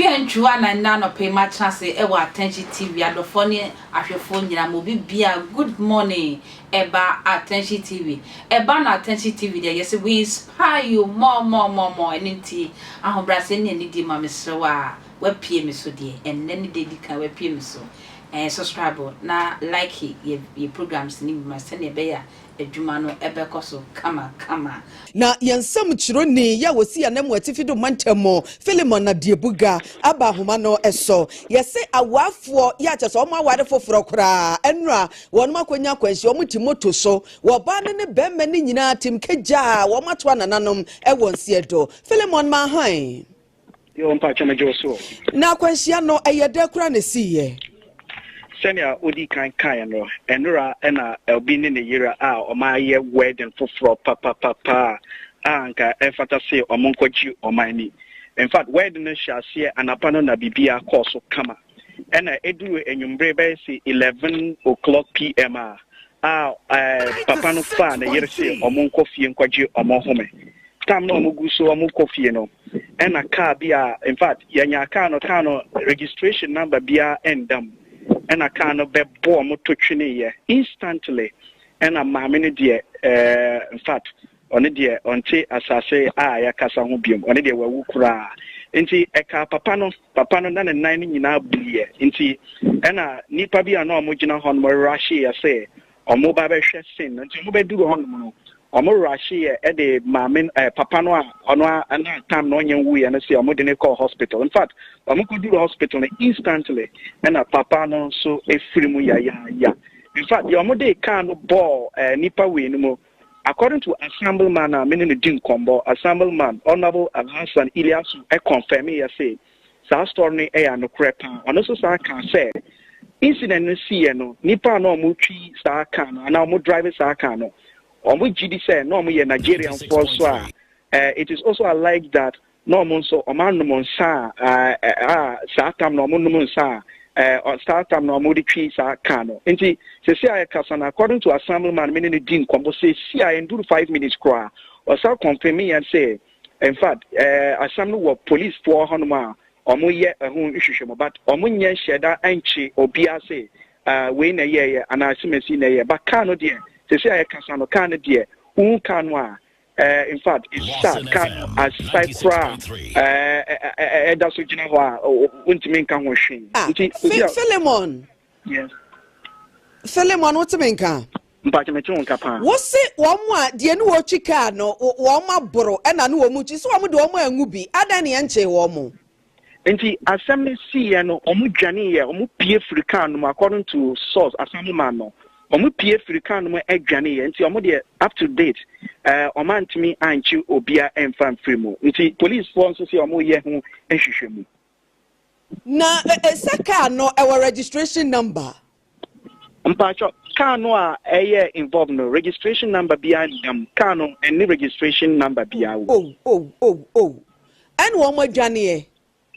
Akua ntwiw anan nnɛ anɔpa yi matena ase wɔ Attention TV adɔfoɔ ne ahwɛfoɔ nyinaa mu obi biara good morning ɛba Attention TV ɛba no Attention TV deɛ yɛse we inspire you more more more more ɛno nti ahobrɛaseɛ ne anidie ma mesrɛ wo a wapue me so deɛ ɛnnɛ ne da edi kan wapue me so ɛɛ subscribe na like yɛ yɛ programs no bi ma sɛnea ɛbɛyɛ a adwuma no ɛbɛkɔ so kama kama. Na yɛn nsɛm kyerɛwni yɛ a ɔsi Anamu Atifi do mantam mu, Philemon Adiebuga, aba nhoma no so. Yɛse awarfoɔ yɛ a kyerɛ sɛ wɔn aware foforɔ koraa ɛno a wɔnom akɔnya akwanhyia, wɔn te moto so, wɔ ɔbaa no ne bɛɛma no nyinaa tem kagyaa wɔn ato anananom wɔ nseɛ do. Philemon Manhae. Yoo mpakyɛ megye wo so o. Na akwanhyia no ɛyɛ dɛ koraa na esiiɛ? Sɛnea odi kan kaeɛ no, ɛnora na Elbi ne ne yere a wɔayɛ wedding foforɔ papapapa a anka ɛfata se wɔnkɔgye wɔn ani. In fact, wedding no hyɛɛ aseɛ anapa no na biribiara kɔɔ so kama. ɛna eduru anwummere bɛyɛ se eleven o'clock pm a a ɛɛ papa no faa ne yere se wɔn nkɔ fie nkɔgye wɔn home tam na wɔn gu so wɔn kɔ fie no ɛna kaa bi a in fact yɛnya kaa no kaa no registration number biara ɛnda mu ɛna kaa no bɛbɔ wɔn to tweneeɛ instantly ɛna maame no deɛ ɛɛ in fact Ɔno deɛ, ɔnte asase a yɛakasa ho bio. Ɔno deɛ, wawu koraa. Enti ɛkaa papa no. Papa no, na ne nan no nyinaa buiɛ. Enti ɛnna nnipa bi a na wɔgyina hɔ no rahyeeɛ sɛ wɔreba abɛhwɛ sin no. Enti wɔbɛduruu hɔ nom no, wɔrahyeeɛ de maame no, ɛɛ, papa no a ɔno ara na tam na ɔnyɛ nwuiɛ no sɛ wɔde no kɔɔ hospital. In fact, wɔkɔduruu hospital no, instantly ɛnna papa no nso firi mu yayaaya. In fact, deɛ wɔde kaa no bɔɔ ɛɛ, nnipa wei no mu, According to Assembleman a me ne no di nkɔmbɔ, Assembleman Honourable Alhassan Ilyasu kɔnfɛmeeɛ se saa story no yɛ anokorɛ paa. Ɔno nso san kaa sɛ incident no siiɛ no, nnipa a na wɔtwi saa car no anaa wɔn drive saa car no, wɔn gyidi sɛ na wɔyɛ Nigerianfoɔ nso a it is also alleged that na wɔn nso wɔanom nsa a a saa tam na wɔnom nsa a ɛɛ saa tam na wɔde twi saa kaa no nti sisi a yɛkasa no according to assemblyman me ne no di nkɔmɔ sisi a yɛnduru five minutes koraa ɔsa kɔnfɛmi yɛn sɛ in fact ɛɛ asɛm no wɔ police foɔ hɔnom a wɔyɛ ɛho nhwehwɛmu but wɔnyɛ nhyɛ da nkye obiara sɛ ɛɛ wei na ɛyɛɛyɛ anaa asimasi na ɛyɛ but kaa no deɛ sisi a yɛkasa no kaa no deɛ wohu kaa no a Eh, in fact, sa car no asai koraa eh, ɛda so gyina hɔ a wontumi nka ho hwee. Ah, nti Philemon. Yes. Philemon, wotumi nka. mpakyɛ mete wo nka paa wose wɔn a deɛ ne wɔtwi kaa no wɔn aboro ɛna ne wɔn kyi so wɔn de wɔn angu bi adan ne ɛnkyee wɔn mo Enti asɛm no siiɛ no, wɔdwaneeɛ, wɔpue firii kar no mu, according to source, Asamoah no, wɔpue firii kar no mu dwaneeɛ, enti wɔn deɛ up to date, eh, wɔn antumi ankye obia mfa mfiri mu, enti policefoɔ nso sɛ wɔyɛ ho nhwehwɛmu. Na ɛsɛ car no ɛwɔ registration number mpakyɛ car no a ɛyɛ involve no registration number biara nna mu car no ɛne registration number biara wɔ. ow ow ow ow ɛna wɔn adwaneɛ.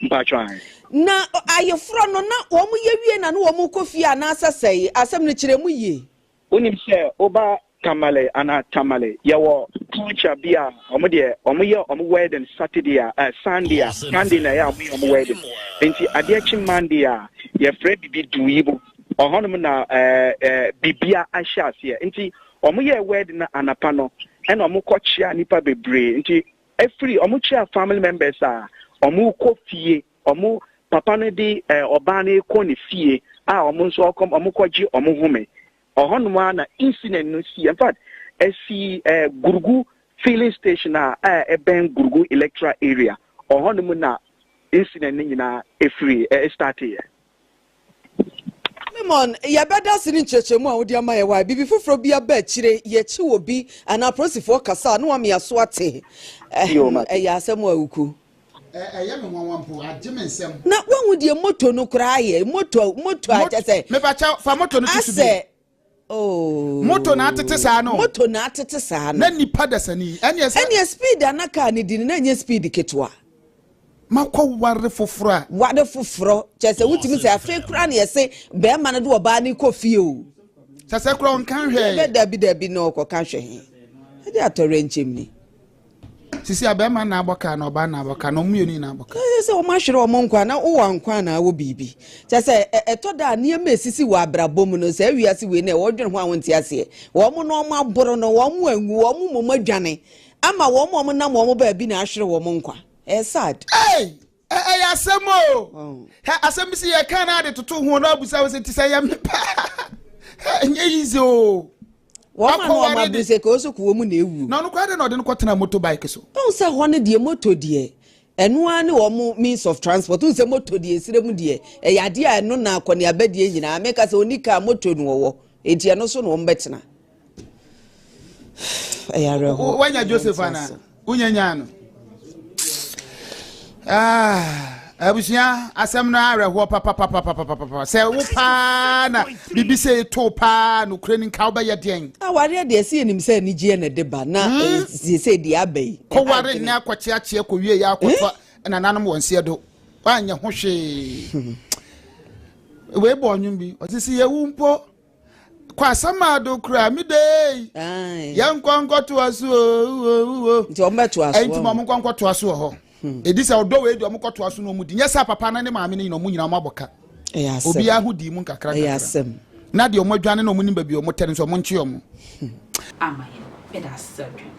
mpakyɛ ayi. na ayeforɔ no na wɔn yɛ wie na no wɔn kɔ fie anaasɛ sɛe asɛm no kyerɛ mu yie. wonim sɛ woba Tamale anaa Tamale, yɛwɔ culture bi a wɔn deɛ wɔn yɛ wɔn wedding Saturday a ɛɛ Sunday a Sunday na ɛyɛ a wɔn yɛ wɔn wedding nti adeɛ kye Monday a yɛfrɛ bibi duuyibo ɔhɔnom na ɛɛ ɛɛ bibia ahyɛ aseɛ nti wɔn yɛ wedding na anapa no ɛna wɔn kɔ kyea nipa bebree nti efiri wɔn kyea family members a wɔn kɔ fie wɔn papa no de ɛɛ ɔbaa no kɔ ne fie a wɔn nso wɔn kɔ gye wɔn home. Ɔhɔnom ara na incident no sii. In fact, ɛsii eh, Gurugu filling station a a ɛbɛn Gurugu electoral area. Ɔhɔnom na incident no nyinaa ɛfiri eh, starteeɛ. Solomon, yɛbɛda ase ne nkyerɛkyerɛmu a wode ama yɛ hɔ a, biribi foforɔ bi aba akyire, yɛkyi wɔ bi anaa apolisifoɔ kasa a na wamea so ate. Ɛyɛ asɛm a ɛwuku. Ɛyɛ me nwanwa mpo, agye me nsam. Na wahu deɛ moto no koraa yɛ. Moto, moto a kyɛ sɛ. Mepakyɛ fa moto no tutu bi. Asɛ. Oh. Moto na atete saa no. Moto na atete saa no. Na nipa dasani. Ɛneɛ sɛ. Ɛneɛ speed a na kaa no di no na ɛnyɛ speed ketewa. Makɔ ware foforɔ a. Ware foforɔ. Kyɛ sɛ wotumi sɛ afei koraa na yɛse bɛrima no de ɔbaa no kɔ fie o. Kyɛ sɛ koraa ɔnka hwɛɛ. Bɛ dabi dabi na ɔkɔka hwɛ he. Ɛde atɔrɛ nkyɛm ni. sisi a bɛrima na abɔ kaa na ɔbaa na abɔ kaa na ɔmo mmienu nyinaa abɔ kaa. Ɛsɛ sɛ wɔn ahwere wɔn nkwa na wowɔ nkwa anaa wɔ biribi. Kyɛ sɛ ɛtɔ da a nneɛma esisi wɔ abrabɔ mu no saa wiase wei na wɔdwene ho a wɔnte aseɛ. Wɔn na wɔn aboro no, wɔn anwu, wɔn mmom adwane ama wɔn a wɔnam wɔn baabi na ahwere wɔn nkwa. Ɛyɛ sad. Ei! Ɛyɛ asɛm o. Hɛ asɛm bi si yɛ kan na de toto ho na abusa wo sɛ ti sɛ yɛ me pa. Hɛ nyɛ yize o. Wɔn ma no ɔma bu sɛ kɔɔ so kɔ wɔn na ewu. Na ɔno kɔ adɛ na ɔde no kɔtena motorbike so. Ɔn sɛ hɔ no deɛ moto deɛ ɛno ara ne wɔn means of transport. Ɔn sɛ moto deɛ esire mu deɛ ɛyɛ adeɛ a ɛno na akɔneaba deɛ nyinaa meka sɛ ɔni kaa moto no ɔwɔ eti ɛno so na wɔn bɛtena. ɛyɛ awerɛhoɔ wanya joseph ana wonya nyaa no abusua asɛm no awerɛhoɔ papapapapapapa sɛ wo paa na biribi sɛ ɛto paa nokorɛ ni nka wobɛyɛ deɛn awareɛ deɛ ɛsɛ yɛnim sɛ anigyeɛ na ɛde ba na sɛ deɛ aba yi kɔware nnɛ akɔkyeakyeɛ kɔwie yɛ akɔtɔ nananom wɔ nseɛ do woanyɛ ho hwee wei bɔ ɔnwom bi ɔsɛ sɛ yɛwu mpo kɔ asamado koraa me dei yɛnkɔ nkɔtoa so oo nti wɔn bɛtoa so nti wɔn nkɔ nkɔtoa so wɔ hɔ hmm. edi sɛ ɔdɔ wei deɛ wɔn kɔtoa so na wɔn di nyɛ sɛ papa no ne maame no nyina wɔn nyina wɔn abɔ ka obiara ho di mu nkakra nkakra na deɛ wɔn adwane na wɔn nim baabi wɔn tɛ no nso wɔn nkye wɔn. Hmm. ama yɛn meda ase sɛ adwene